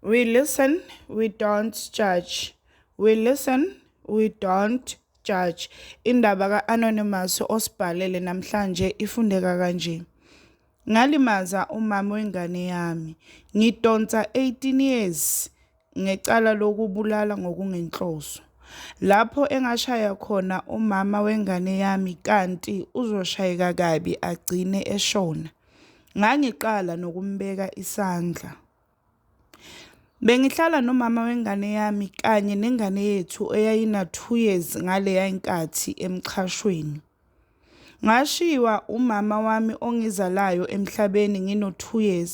We listen, we don't judge. We listen, we don't judge. Indaba ka-Anonymous osibhalele namhlanje ifundeka kanje. Ngalimaza umama wengane yami. Ngidonsa 18 years ngecala lokubulala ngokungenhloso. Lapho engashaya khona umama wengane yami kanti uzoshayeka kabi agcine eshona. Ngangiqala nokumbeka isandla. Bengihlala nomama wengane yami kanye nengane yethu eyayina-2 years ngaleya nkathi emxhashweni. Ngashiywa umama wami ongizalayo emhlabeni ngino-2 years,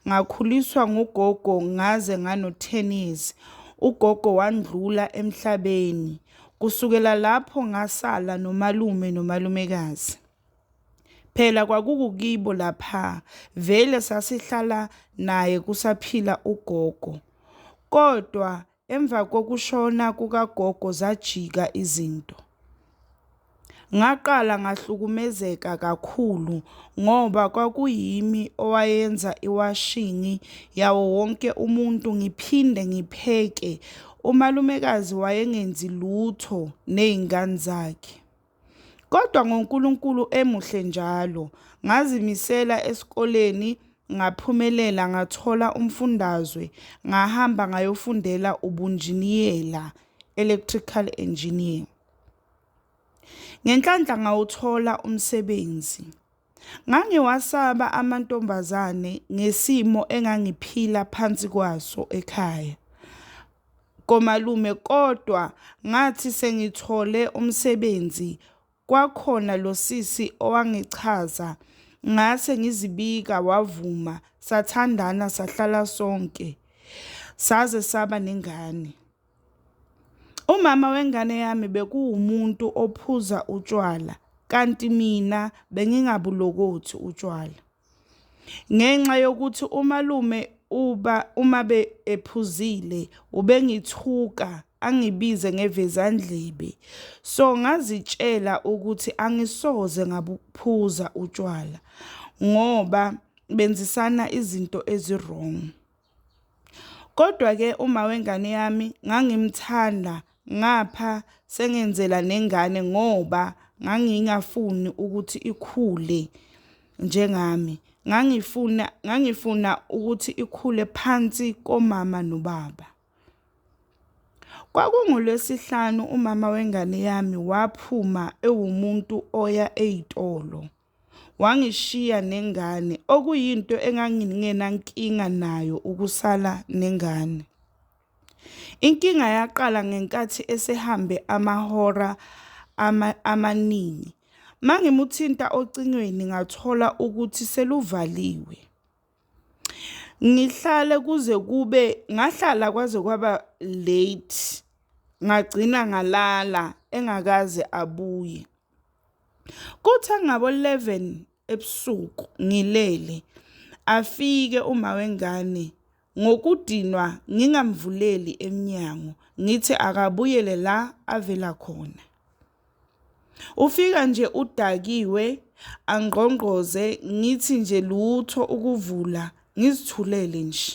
ngakhuliswa ngugogo ngaze ngano-10 years, ugogo wandlula emhlabeni. Kusukela lapho ngasala nomalume nomalumekazi. Phela kwakukukibo lapha, vele sasihlala naye kusaphila ugogo. Kodwa emva kokushona kukagogo zajika izinto. Ngaqala ngahlukumezeka kakhulu ngoba kwakuyimi owayenza iwashini yawo wonke umuntu ngiphinde ngipheke, umalumekazi wayengenzi lutho nezingane zakhe. Kodwa ngoNkulunkulu emuhle njalo, ngazimisela esikoleni ngaphumelela ngathola umfundazwe ngahamba ngayofundela ubunjiniyela, electrical engineer. Ngenhlanhla ngawuthola umsebenzi. Ngangiwasaba amantombazane ngesimo engangiphila phansi kwaso ekhaya komalume kodwa ngathi sengithole umsebenzi kwakhona lo sisi owangichaza ngase ngizibika wavuma sathandana sahlala sonke saze saba nengane. Umama wengane yami bekuwumuntu ophuza utshwala kanti mina bengingabulokothi utshwala. Ngenxa yokuthi umalume uba uma be ephuzile ubengithuka angibize ngevezandlebe. So ngazitshela ukuthi angisoze ngabuphuza utshwala ngoba benzisana izinto ezi-wrong. Kodwa-ke uma wengane yami ngangimthanda ngapha sengenzela nengane ngoba ngangingafuni ukuthi ikhule njengami. Ngangifuna ngangifuna ukuthi ikhule phansi komama nobaba. KwakungoLwesihlanu umama wengane yami waphuma ewumuntu oya ey'tolo. wangishiya nengane okuyinto engangingenankinga nayo ukusala nengane. Inkinga yaqala ngenkathi esehambe amahora amaningi. Mangimuthinta ocingweni ngathola ukuthi seluvaliwe. Ngihlale kuze kube ngahlala kwaze kwaba late, ngagcina ngalala engakaze abuye. Kuthe ngabo eleven ebusuku ngilele, afike umama wengane ngokudinwa ngingamvuleli emnyango, ngithi akabuyele la avela khona. Ufika nje udakiwe angqongqoze ngithi nje lutho ukuvula ngizithulele nje.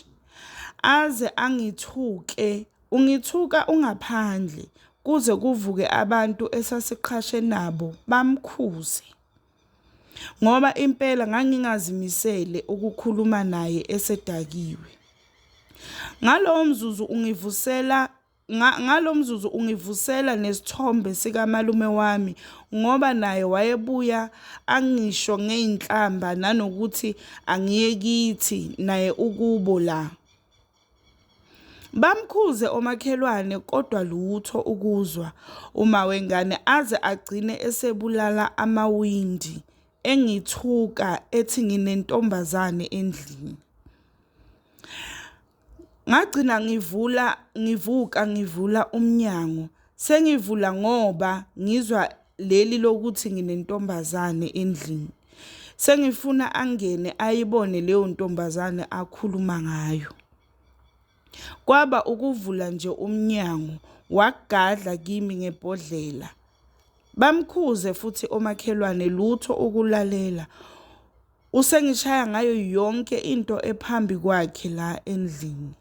Aze angithuke ungithuka ungaphandle kuze kuvuke abantu esasiqhashe nabo bamkhuze ngoba impela ngangingazimisele ukukhuluma naye esedakiwe. Ngalowo mzuzu ungivusela Ngalo mzuzu ungivusela nesithombe sikamalume wami ngoba naye wayebuya angisho ngey'nhlamba nanokuthi angiye kithi naye ukubo la. Bamkhuze omakhelwane kodwa lutho ukuzwa uma wengane aze agcine esebulala amawindi engithuka ethi nginentombazane endlini. Ngagcina ngivula ngivuka ngivula umnyango sengivula ngoba ngizwa leli lokuthi nginentombazane endlini. Sengifuna angene ayibone leyo ntombazane akhuluma ngayo. Kwaba ukuvula nje umnyango wagadla kimi ngebhodlela. Bamkhuze futhi omakhelwane lutho ukulalela. Usengishaya ngayo yonke into ephambi kwakhe la endlini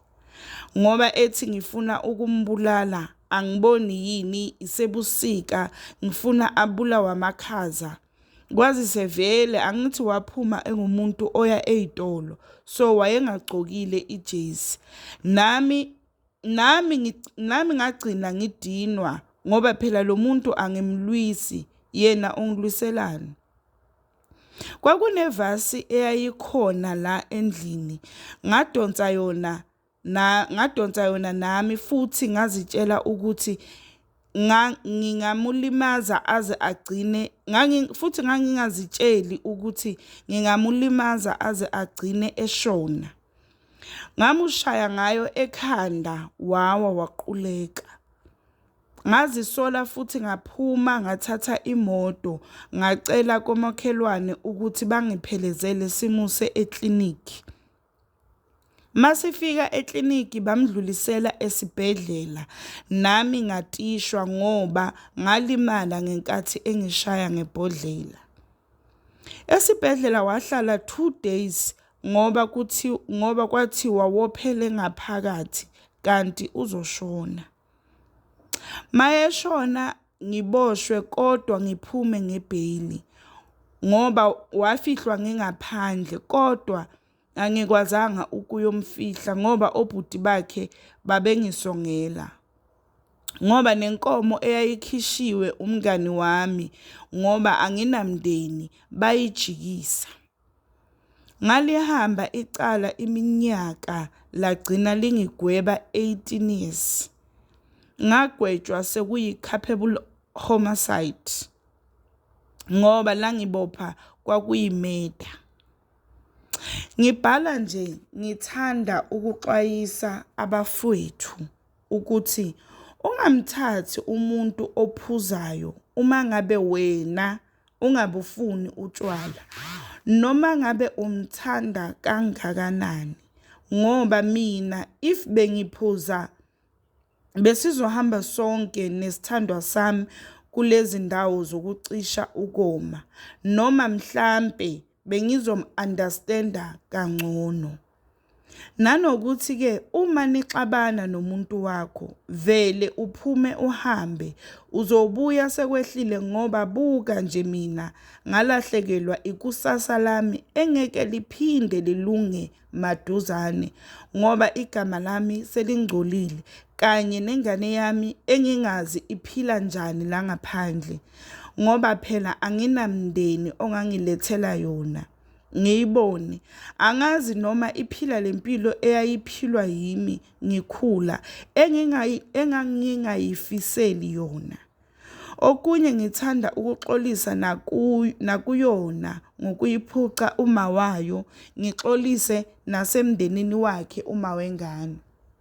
ngoba ethi ngifuna ukumbulala angiboni yini isebusika ngifuna abulawa amakhaza kwazise vele angithi waphuma engumuntu oya ey'tolo so wayengagcokile ijezi nami nami nami ngagcina ngidinwa ngoba phela lo muntu angimlwisi yena ungilwiselani Kwakunevasi eyayikhona la endlini, ngadonsa yona na ngadonsa yona nami futhi ngazitshela ukuthi ngingamulimaza aze agcine ngangi futhi ngangingazitsheli ukuthi ngingamulimaza aze agcine eshona. Ngamushaya ngayo ekhanda wawa waquleka. Ngazisola futhi ngaphuma ngathatha imoto ngacela komakhelwane ukuthi bangiphelezele simuse eklinikhi. Masifika eklinikhi bamdlulisela esibhedlela nami ngatishwa ngoba ngalimala ngenkathi engishaya ngebhodlela. Esibhedlela wahlala two days ngoba kuthi ngoba kwathiwa wophele ngaphakathi kanti uzoshona. Mayeshona ngiboshwe kodwa ngiphume ngebheyili ngoba wafihlwa ngingaphandle kodwa angikwazanga ukuyomfihla ngoba obhuti bakhe babengisongela. Ngoba nenkomo eyayikhishiwe umngani wami ngoba anginamndeni bayijikisa. Ngalihamba icala iminyaka lagcina lingigweba 18 years. Ngagwetshwa sekuyi capable homicide ngoba langibopha kwakuyi murder. Ngibhala nje ngithanda ukuxwayisa abafwethu ukuthi ungamthathi umuntu ophuzayo uma ngabe wena ungabufuni utshwala noma ngabe umthanda kangakanani ngoba mina if bengiphuza besizohamba sonke nesithandwa sami kulezi ndawo zokucisha ukoma noma mhlampe bengizomu-understand-a kangcono. Nanokuthi ke uma nixabana nomuntu wakho vele uphume uhambe uzobuya sekwehlile ngoba buka nje mina ngalahlekelwa ikusasa lami engeke liphinde lilunge maduzane ngoba igama lami selingcolile kanye nengane yami engingazi iphila njani la ngaphandle ngoba phela anginamndeni ongangilethela yona. ngiyibone. Angazi noma iphila le mpilo eyayiphilwa yimi ngikhula engangingayifiseli yona. Okunye ngithanda ukuxolisa nakuyona ngokuyiphuca uma wayo, ngixolise nasemndenini wakhe uma wengane.